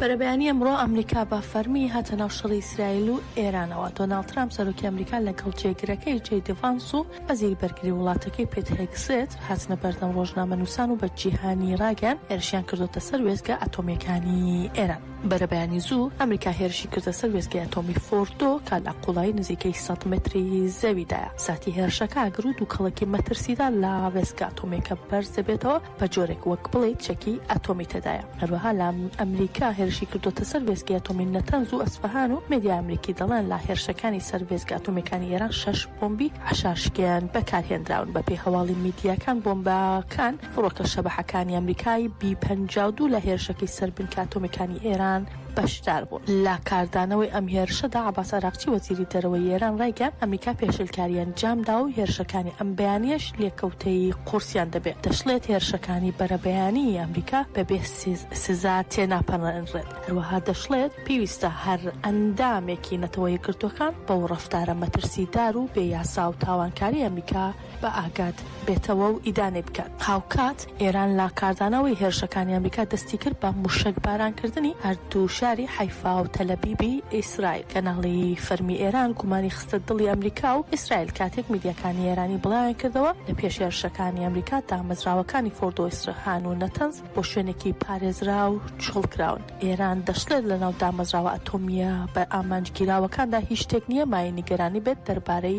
بەرەبەیانی ئەمڕۆ ئەمریکا بە فەرمی هاتە ناو شەڕی ئیسرائیل و ئێرانەوە، دۆناڵد ترامپ سەرۆکی ئەمریکا لەگەڵ جێگرەکەی جەی دی ڤانس و وەزیری بەرگری وڵاتەکەی پیت هێگسێت هاتنە بەردەم ڕۆژنامەنووسان و بە جیهانی ڕاگەیان هێرشیان کردۆتە سەر وێستگە ئەتۆمییەکانی ئێران. بەرەبەیانی زوو ئەمریکا هێرشی کردە سەر وێستگەی ئەتۆمی فۆردۆ کە لە قوڵایی نزیکەی سەد مەتری زەویدایە، ساتی هێرشەکە ئاگر و دووکەڵەکی مەترسیدار لە وێستگە ئەتۆمییەکە بەرز دەبێتەوە، بە جۆرێک وەک بڵێیت چەکی ئەتۆمی تێدایە. هەروەها لە ئەمریکا هێرشی کردووەتە سەر وێستگەی ئەتۆمی نەتەنز و ئەسفەهان و مێدیا ئەمریکی دەڵێن لە هێرشەکانی سەر وێستگە ئەتۆمییەکانی ئێران شەش بۆمبی حەشاشکێن بەکارهێنراون. بەپێی هەواڵی میدیاکان بۆمبەکان فڕۆکە شەبەحەکانی ئەمریکای بی پەنجا و دوو لە هێرشەکەی سەر بنکە ئەتۆمییەکانی ئێران بەشدار بوون. لە کاردانەوەی ئەم هێرشەدا، عەباس عەراقچی، وەزیری دەرەوەی ئێران ڕایگەیاند، ئەمریکا پێشێلکاریی ئەنجام داوە و هێرشەکانی ئەم بەیانییەش لێکەوتەی قورسیان دەبێت. دەشڵێت، هێرشەکانی بەرەبەیانیی ئەمریکا بەبێ سزا تێناپەڕێنرێت. هەروەها دەشڵێت، پێویستە هەر ئەندامێکی نەتەوە یەکگرتووەکان بەو ڕەفتارە مەترسیدار و بێ یاسا و تاوانکارەی ئەمریکا بە ئاگات بێتەوە و ئیدانەی بکات. هاوکات ئێران لە کاردانەوەی هێرشەکانی ئەمریکا دەستی کرد بە مووشەکبارانکردنی هەردوو شاری حەیفا و تەلەبیبی ئیسرائیل. کەناڵی فەرمی ئێران گومانی خستە دڵی ئەمریکا و ئیسرائیل کاتێک میدیاکانی ئێرانی بڵاویان کردەوە لە پێش هێرشەکانی ئەمریکا دامەزراوەکانی فۆردۆ و ئیسرهان و نەتەنز بۆ شوێنێکی پارێزراو چۆڵ کراون. ئێران دەشڵێت لەناو دامەزراوە ئەتۆمییە بە ئامانج گیراوەکاندا هیچ شتێک نییە مایەی نیگەرانی بێت دەربارەی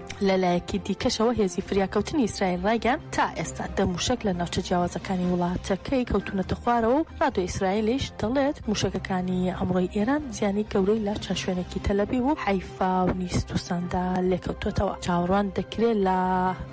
لەلایەکی دیکەشەوە هێزی فریاکەوتنی ئیسرائیل ڕایگەیاند، تا ئێستا دە مووشەک لە ناوچە جیاوازەکانی وڵاتەکەی کەوتوونەتە خوارەوە و ڕادیۆی ئیسرائیلیش دەڵێت، مووشەکەکانی ئەمڕۆی ئێران زیانی گەورەی لە چەند شوێنێکی تەلەبیب و حەیفا و نیستوساندا لێکەوتووەتەوە. چاوەڕوان دەکرێت لە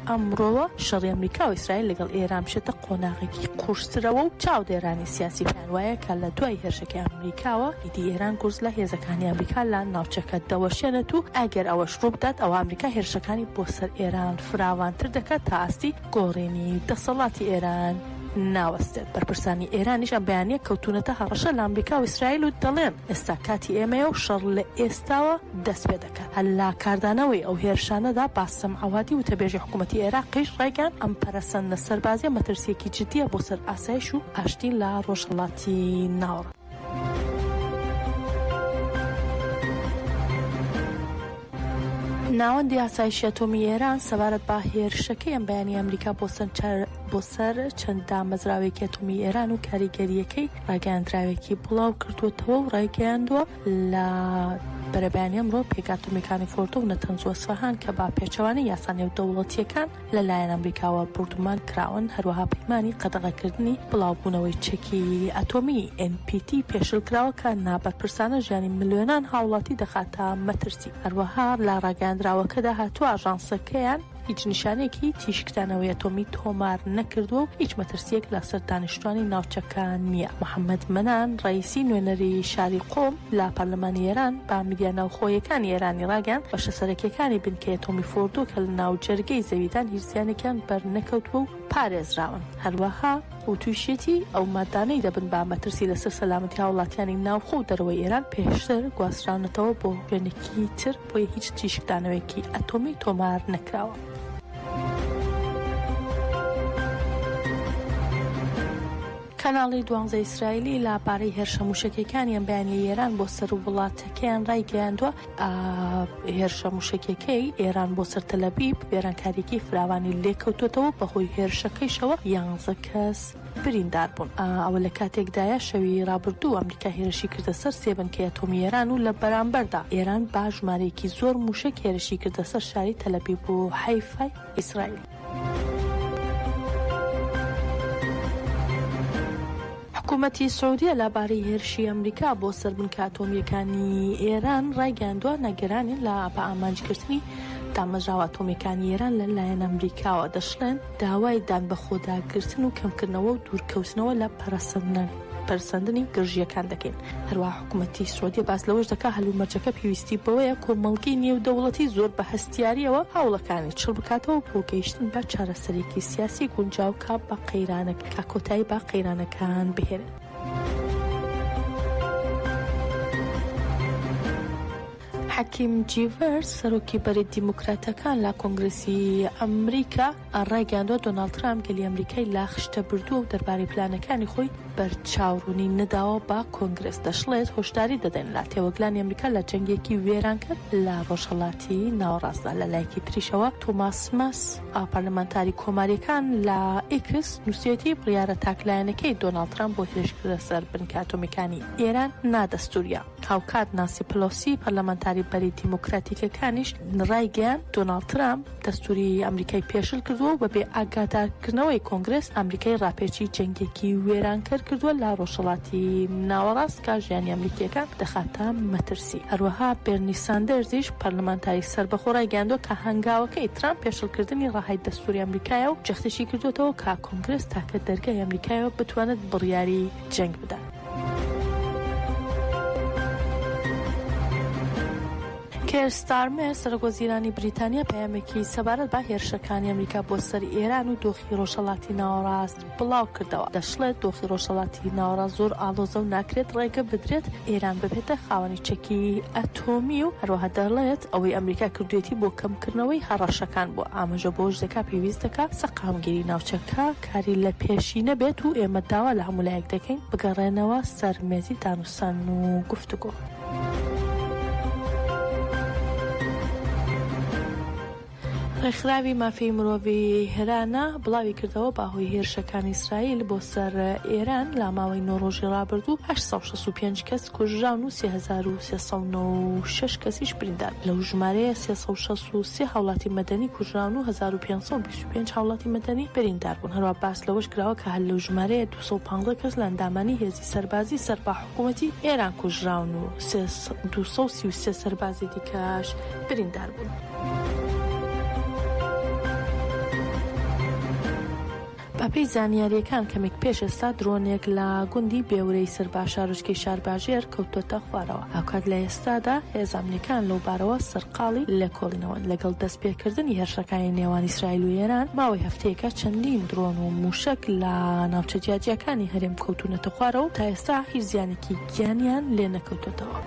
ئەمڕۆوە شەڕی ئەمریکا و ئیسرائیل لەگەڵ ئێران بچێتە قۆناغێکی قورسترەوە و چاودێرانی سیاسی پێیان وایە کە لە دوای هێرشەکەی ئەمریکاوە، دی ئێران گورز لە هێزەکانی ئەمریکا لە ناوچەکە دەوەشێنێت و ئەگەر ئەوەش ڕووبدات ئەوا ئەمریکا هێرشەکانی بۆ سەر ئێران فراوانتر دەکات تا ئاستی گۆڕینی دەسەڵاتی ئێران ناوەستێت. بەرپرسانی ئێرانیش ئەم بەیانییە کەوتوونەتە هەڕەشە لە ئەمریکا و ئیسرائیل و دەڵێن، ئێستا کاتی ئێمەیە و شەڕ لە ئێستاوە دەست پێ دەکات. هەر لە کاردانەوەی ئەو هێرشانەدا باسم عەوادی وتەبێژی حکوومەتی عێراقیش ڕایگەیاند، ئەم پەرەسەندنە سەربازییە مەترسییەکی جددییە بۆ سەر ئاسایش و ئاشتی لە ڕۆژهەڵاتی ناوەڕاست. ناوەندی ئاسایشی ئەتۆمی ئێران سەبارەت بە هێرشەکەی ئەم بەیانی ئەمریکا بۆ سەر بۆ سەر چەند دامەزراوێکی ئەتۆمی ئێران و کاریگەریەکەی ڕاگەیاندراوێکی بڵاو کردووەتەوە و ڕایگەیاندووە لە بەرەبەیانی ئەمڕۆ پێکاتۆمیکانی فۆردۆ و نەتەنزوە سوهان کە با پێچەوانەی یاسا نێودەوڵەتیەکان لەلایەن ئەمریکاوە بۆردومان کراون، هەروەها پەیمانی قەدەغەکردنی بڵاوبوونەوەی چەکی ئەتۆمیی، ئێن پی تی، پێشل کراوە کە نابەرپرسانە ژیانی ملیۆنان هاوڵاتی دەخاتە مەترسی. هەروەها لە ڕاگەیاندراوەکەدا هاتووە ئاژانسەکەیان هیچ نیشانەیەکی تیشکدانەوەی ئەتۆمی تۆمار نەکردووە و هیچ مەترسییەک لەسەر دانیشتووانی ناوچەکە نییە. محەممەد مەنان ڕەییسی، نوێنەری شاری قۆم، لە پەرلەمانی ئێران بە میدیا ناوخۆییەکانی ئێرانی ڕاگەیاند، بەشە سەرەکییەکانی بنکەی ئەتۆمی فۆردۆ کە لە ناوجەرگەی زەویدان هیچ زیانێکیان بەرنەکەوتووە و پارێزراون. هەروەها وتووشیەتی، ئەو ماددانەی دەبن بە مەترسی لەسەر سەلامەتی هاوڵاتیانی ناوخۆ و دەرەوەی ئێران پێشتر گواستراونەتەوە بۆ وێنەکی تر، بۆیە هیچ تیشکدانەوەیەکی ئەتۆمی تۆمار نەکراوە. کەناڵی دوانزە ئیسرائیلی لە بارەی هێرشە مووشەکیەکانی ئەمبەیانی ئێران بۆ سەر ووڵاتەکەیان ڕایگەیاندووە هێرشە مووشەکیەکەی ئێران بۆ سەر تەلەبیب وێرانکاریەکی فراوانی لێکەوتۆتەوە بەهۆی هێرشەکەیشەوە یانزە کەس بریندار بوون. ئەوە لە کاتێکدایە شەوی ڕابردوو ئەمریکا هێرشی کردە سەر سێ بنکەی ئەتۆمی ئێران و لە بەرامبەردا ئێران بە ژمارەیەکی زۆر مووشەک هێرشی کردە سەر شاری تەلەبیب و حەیفای ئیسرائیل. حکومەتی سعودیە لەبارەی هێرشی ئەمریکا بۆ سەر بنکە ئەتۆمییەکانی ئێران ڕایگەیاندووە، نەگەرانی لە بە ئامانجگرتنی دامەزراوە ئەتۆمییەکانی ئێران لە لایەن ئەمریکاوە، دەشڵێن، داوای دانبەخۆداگرتن و کەمکردنەوە و دوورکەوتنەوە لە پەرەسەندن. پەرسەندنی گرژییەکان دەکەین. هەروەها حکومەتی سعودیە باس لەوەش دەکات هەلومەرجەکە پێویستی بەوەیە کۆمەڵگەی نێودەوڵەتی زۆر بە هەستیارییەوە هەوڵەکانی چڕ بکاتەوە بۆ گەیشتن بە چارەسەرێکی سیاسی گونجاو کە بە قەیرانەک کە کۆتایی بە قەیرانەکان بهێنێت. حەکیم جیڤەر، سەرۆکی بەرەی دیموکراتەکان لە کۆنگرێسی ئەمریکا، ڕایگەیاندوە دۆناڵد ترامپ گەلی ئەمریکای لە خشتە بردوە و دەربارەی پلانەکانی خۆی بەرچاو ڕونی نەداوە بە کۆنگرێس، دەشڵێت هۆشداری دەدەین لە تێوەگلانی ئەمریکا لە جەنگێکی وێرانکەر لە ڕۆژهەڵاتی ناوەڕاستدا. لە لایەکی تریشەوە تۆماس ماس پەرلەمانتاری کۆماریەکان لە ئیکس نوسیویەتی بڕیارە تاک لایەنەکەی دۆناڵد ترامپ بۆ هێرشکردنە سەر بنکە ئەتۆمیەکانی ئێران نادەستوریە. هاوکات نانسی پلۆسی پەرلەمانتاری بەری دیموکراتیکەکانیش رایگەیاند، دۆناڵد ترامپ دەستووریی ئەمریکای پێشل کردووە و بەبێ ئاگادارکردنەوەی کۆنگرێس ئەمریکای راپێچی جەنگێکی وێرانکەر کردووە لە رۆژهەڵاتی ناوەڕاست کە ژیانی ئەمریکییەکان دەخاتە مەترسی. هەروەها بێرنی ساندەرزیش پەرلەمانتاری سەربەخۆ رایگەیاندووە کە هەنگاوەکەی ترامپ پێشلکردنی رەهای دەستووری ئەمریکایە و جەختیشیکردووەتەوە کە کۆنگرێس تاکە دەرگای ئەمریکایە بتوانێت بڕیاری جەنگ بدات. کێر ستارمێر سەرۆک وەزیرانی بریتانیا پەیامێکی سەبارەت بە هێرشەکانی ئەمریکا بۆ سەر ئێران و دۆخی ڕۆژهەڵاتی ناوەڕاست بڵاو کردەوە دەشڵێت دۆخی ڕۆژهەڵاتی ناوەڕاست زۆر ئاڵۆزە و ناکرێت ڕێگە بدرێت ئێران ببێتە خاوەنی چەکی ئەتۆمی و هەروەها دەڵێت ئەوەی ئەمریکا کردوێتی بۆ کەمکردنەوەی هەڕەشەکان بۆ ئاماژە بۆش دەکات پێویست دەکات سەقامگیری ناوچەکە کاری لە پێشی نەبێت و ئێمە داوا لە هەموو لایەک دەکەین بگەڕێنەوە سەر مێزی دانوستان و گفتوگۆ. ڕێکخراوی مافی مرۆڤی هێرانە بڵاوی کردەوە باهۆی هێرشەکانی ئیسرائیل بۆ سەر ئێران لا ماوەی نۆ ڕۆژی ڕابردوو 1965 کەس کوژراون و 1996 کەسیش بریندار لەو ژمارەیە 363 هاوڵاتی مەدەنی کوژراون و 1520 پێنج هاوڵاتی مەدەنی بریندار بوون، هەروەها باس لەوەش کراوە کە هەر لەو ژمارەیە دوو سەد و پازدە کەس لە ئەندامانی هێزی سەربازی سەر بە حکوومەتی ئێران کوژراون و دوو سەد و سی و سێ سەربازی دیکەش بریندار بوون. بەپێی زانیارییەکان کەمێک پێش ئێستا درۆنێک لە گوندی بێورەی سەر بە شارۆچکەی شارباژێر کەوتۆتە خوارەوە، هاوکات لە ئێستادا هێزە ئەمنییەکان لەو بارەوە سەر قاڵی لێکۆڵینەوە، لەگەڵ دەستپێکردنی هێرشەکانی نێوان ئیسرائیل و ئێران، ماوەی هەفتەیەکە چەندین درۆن و مووشەک لە ناوچە جیاجیاکانی هەرێم کەوتوونەتە خوارەوە و تا ئێستا هیچ زیانێکی گیانیان لێ نەکەوتۆتەوە.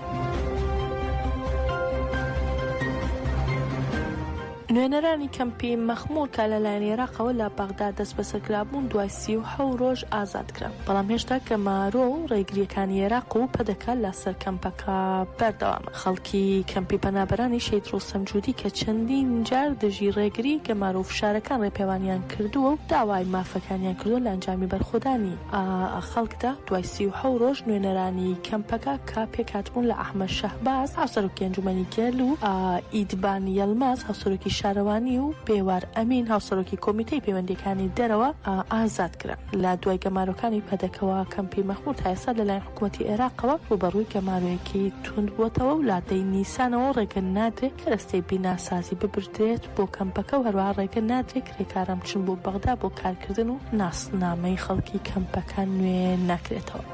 نوێنەرانی کەمپی مەخمور کە لەلایەن ئێراقەوە لە بەغدا دەستبەسەر کرابوون، دوای سی و حەوت رۆژ ئازاد کران. کرا، بەڵام هێشتا گەمارۆ و ڕێگرییەکانی عێراق و پەدەکە لە سەر کەمپەکە بەردەوامە. خەڵکی کەمپی پەنابەرانی شەهید ڕۆستەم جودی کە چەندین جار دژی ڕێگری، گەمارۆ و فشارەکان ڕێپێوانیان کردووە و داوای مافەکانیان کردووە لە ئەنجامی بەرخۆدانی خەڵکدا دوای سی و حەوت ڕۆژ نوێنەرانی کەمپەکە کە پێکهاتبوون لە ئەحمەد شەهباز هاوسەرۆکی ئەنجومەنی گەل و ئیدبان یەلماز هاوسەرۆکی شارەوانی و بێوار ئەمین هاوسەرۆکی کۆمیتەی پەیوەندییەکانی دەرەوە ئازاد کران. لە دوای گەمارۆکانی پەدەکەوە کەمپی مەخمور تا ئێستا لە لایەن حکوومەتی عێراقەوە ڕووبەڕووی گەمارۆیەکی توند بووەتەوە و لە دەی نیسانەوە ڕێگە نادرێت کەرەستەی بیناسازی ببردرێت بۆ کەمپەکە و هەروەها ڕێگە نادرێت کرێکاران بچن بۆ بەغدا بۆ کارکردن و ناسنامەی خەڵکی کەمپەکە نوێ نەکرێتەوە.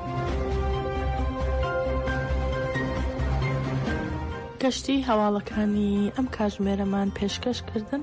گەشتی هەواڵەکانی ئەم کاتژمێرەمان پێشکەش کردن.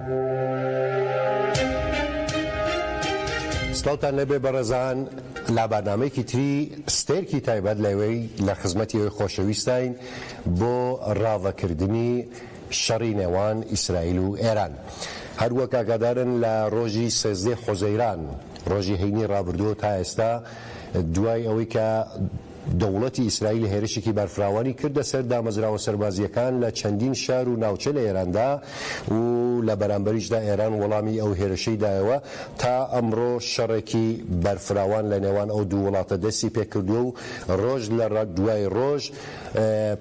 سڵاوتان لێبێ بەڕێزان لە بەرنامەیەکی تری ستێرکی تایبەت لەوێ لە خزمەتی ئەوی خۆشەویستین بۆ ڕاڤەکردنی شەڕی نێوان ئیسرائیل و ئێران هەروەک ئاگادارن لە ڕۆژی سێزدەی حوزەیران ڕۆژی هەینی ڕابردووە تا ئێستا دوای ئەوەی کە دەوڵەتی ئیسرائیل هێرشێکی بەرفراوانی کردە سەر دامەزراوە سەربازییەکان لە چەندین شار و ناوچە لە ئێراندا و لە بەرامبەریشدا ئێران وەڵامی ئەو هێرشەی دایەوە. تا ئەمڕۆ شەڕێکی بەرفراوان لە نێوان ئەو دوو وڵاتە دەستی پێ کردووە و ڕۆژ لە دوای ڕۆژ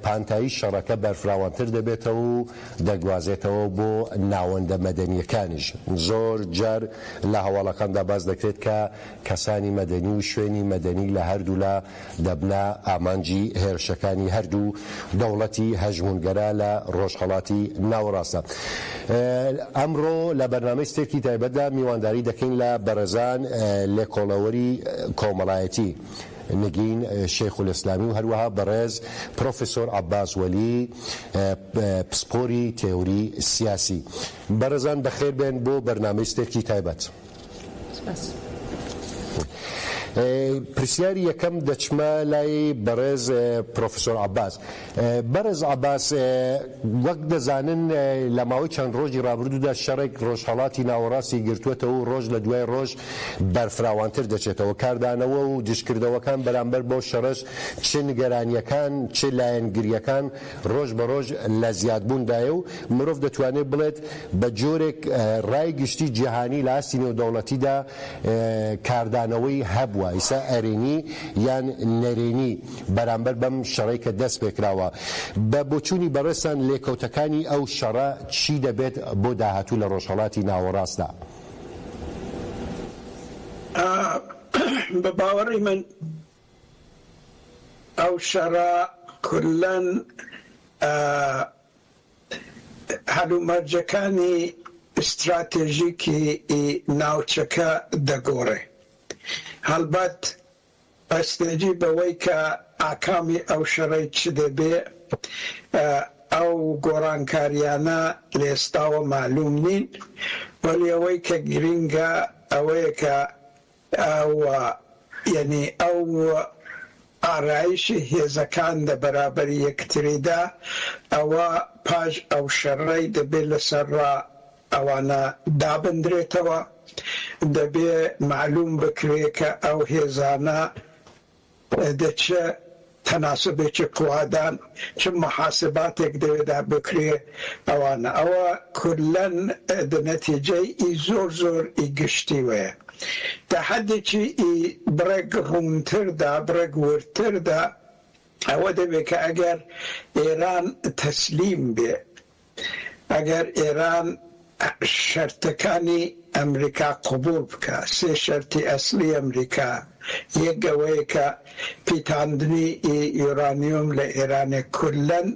پانتایی شەڕەکە بەرفراوانتر دەبێتەوە و دەگوازێتەوە بۆ ناوەندە مەدەنییەکانیش. زۆر جار لە هەواڵەکاندا باس دەکرێت کە کەسانی مەدەنی و شوێنی مەدەنی لە هەردوولا دەبنە ئامانجی هێرشەکانی هەردوو دەوڵەتی هەژموونگەرا لە ڕۆژهەڵاتی ناوەڕاستدا. ئەمڕۆ لە بەرنامەی ستێکی تایبەتدا میوانداری دەکەین لە بەڕێزان لێکۆڵەوەری کۆمەڵایەتی نگین شێخولئیسلامی و هەروەها بەڕێز پرۆفیسۆر عەباس وەلی پسپۆری تێوری سیاسی. بەڕێزان بەخێربێن بۆ بەرنامەی ستێکی تایبەت. پرسیاری یەکەم دەچمە لای بەڕێز پرۆفسۆر عەباس. بەڕێز عەباس وەک دەزانن لە ماوەی چەند ڕۆژی ڕابردوودا شەڕێک ڕۆژهەڵاتی ناوەڕاستی گرتووەتەوە و ڕۆژ لە دوای ڕۆژ بەرفراوانتر دەچێتەوە. کاردانەوە و دژکردەوەکان بەرامبەر بەو شەڕەش چ نیگەرانییەکان چ لایەنگرییەکان، ڕۆژ بە ڕۆژ لە زیادبووندایە و مرۆڤ دەتوانێت بڵێت بە جۆرێک ڕای گشتی جیهانی لە ئاستی نێودەوڵەتیدا کاردانەوەی هەبووە ئیستا ئەرێنی یان نەرێنی بەرامبەر بەم شەڕەی کە دەست پێکراوە. بە بۆچوونی بەڕێزتان لێکەوتەکانی ئەو شەڕە چی دەبێت بۆ داهاتوو لە ڕۆژهەڵاتی ناوەڕاستدا؟ بە باوەڕی من ئەو شەڕە کوللەن هەلومەرجەکانی ئیستراتێژیکی ی ناوچەکە دەگۆڕێ. هەڵبەت بەستێجی بەوەی کە ئاکامی ئەو شەڕەی چ دەبێ ئەو گۆڕانکاریانە لەئێستاوە مەعلوم نین، وەلی ئەوەی کە گرینگە ئەوەیە کە و یەنی ئەو ئارایشەی هێزەکان لە بەرابەر یەکتریدا ئەوە پاش ئەو شەڕەی دەبێ لەسەر ڕا ئەوانە دابندرێتەوە دەبێ مەعلوم بکرێ کە ئەو هێزانە دە چ تەناسوبێکی قوادان چ موحاسباتێک دەێ دا بکرێ ئەوانە ئەوە کوللەن دە نەتیجەی ئی زۆر زۆر ئی گشتی وەیە تا حەدێکی ئی بڕێک ڕوونتر دا بڕێک وردتر دا ئەوە دەێ کە ئەگەر ئێران تەسلیم بێ ئەگەر ئێران شەرتەکانی ئەمریکا قبوڵ بکا، سێ شەرتی ئەسڵی ئەمریکا، یەک ئەوەیە کە پیتاندنی ئی یۆرانیۆم لە ئێرانێ کوللەن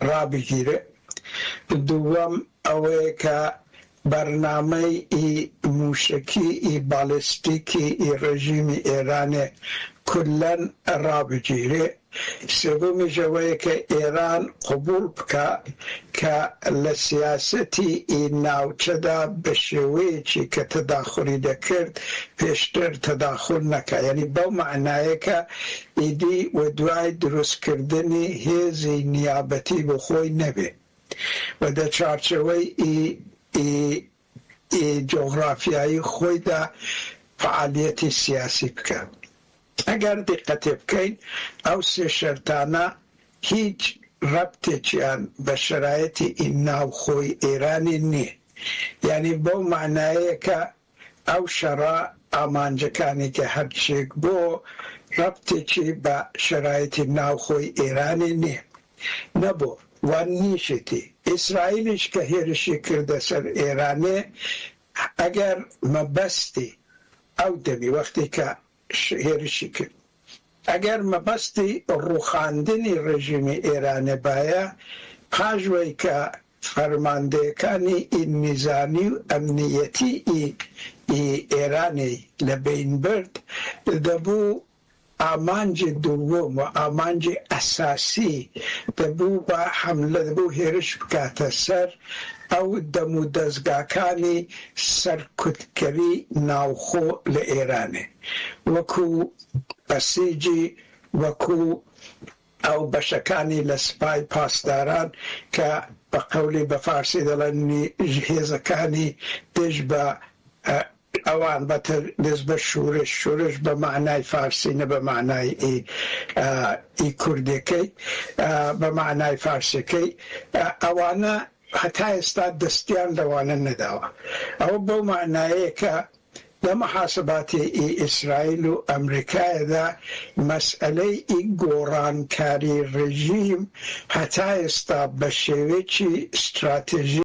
ڕابگیرێ، دووەم ئەوەیە کە بەرنامەی ی مووشەکی ی باڵێستیکی ی ڕێژیمی ئێرانێ کوللەن ڕابگیرێ، سێوەمی ژەوەیە کە ئێران قبووڵ بکا کە لە سیاسەتی ی ناوچەدا بە شێوەیەکی کە تەداخولی دەکرد پێشتر تەداخول نەکا. یانی بەو مەعنایە کە ئیدی وەدوای دروستکردنی هێزی نیابەتی بۆ خۆی نەبێ. و دە چوارچێوەی ی جۆغڕافیایی خۆیدا فەعالیەتی سیاسی بکا. ئەگەر دیقەتێ بکەین ئەو سێ شەرتانە هیچ ڕەبتێکیان بە شەرایتی ی ناوخۆی ئێرانی نیە. یانی بەو مانایەیە کە ئەو شەڕە ئامانجەکانی کە هەرچییەک بۆ ڕەبتێکی بە شەرایتی ناوخۆی ئێرانی نیە نەبۆ و نیشیتی ئیسرائیلیش کە هێرشی کردە سەر ئێرانێ ئەگەر مەبەستی ئەو دەمی وەختی کە هێرشی کرد. ئەگەر مەبەستی ڕووخاندنی ڕێژیمی ئێرانێ بایە، پاش وەی کە فەرماندەیەکانی ئی نیزامی و ئەمنییەتی ئی ئێرانێ لە بەین برد، دەبوو ئامانجی دووم و ئامانجی ئەساسی دەبوو بە حەملە، دەبوو هێرش بکاتە سەر ئەو دەمودەزگاکانی سەرکوتکەری ناوخۆ لە ئێرانێ وەکو بەسیجی وەکو ئەو بەشەکانی لە سپای پاسداران کە بە قەولی بە فارسی دەڵێن هێزەکانی دژ بە ئەوان بە تە دەست بە شورش، شورش بە مانای فارسی نە بە مانای ئی ئی کوردێکەی ئا بە مانای فارسێکەی ئە وانە هەتا ئێستا دەستیان لە وانە نەداوە. ئەوە بەو مانایەیە کە لە محاسباتی ئی ئیسرائیل و ئە مریکایەدا مەسئەلەی ئی گۆڕانکاری ڕێژیم هەتا ئێستا بە شێوەیەکی ستراتێژی،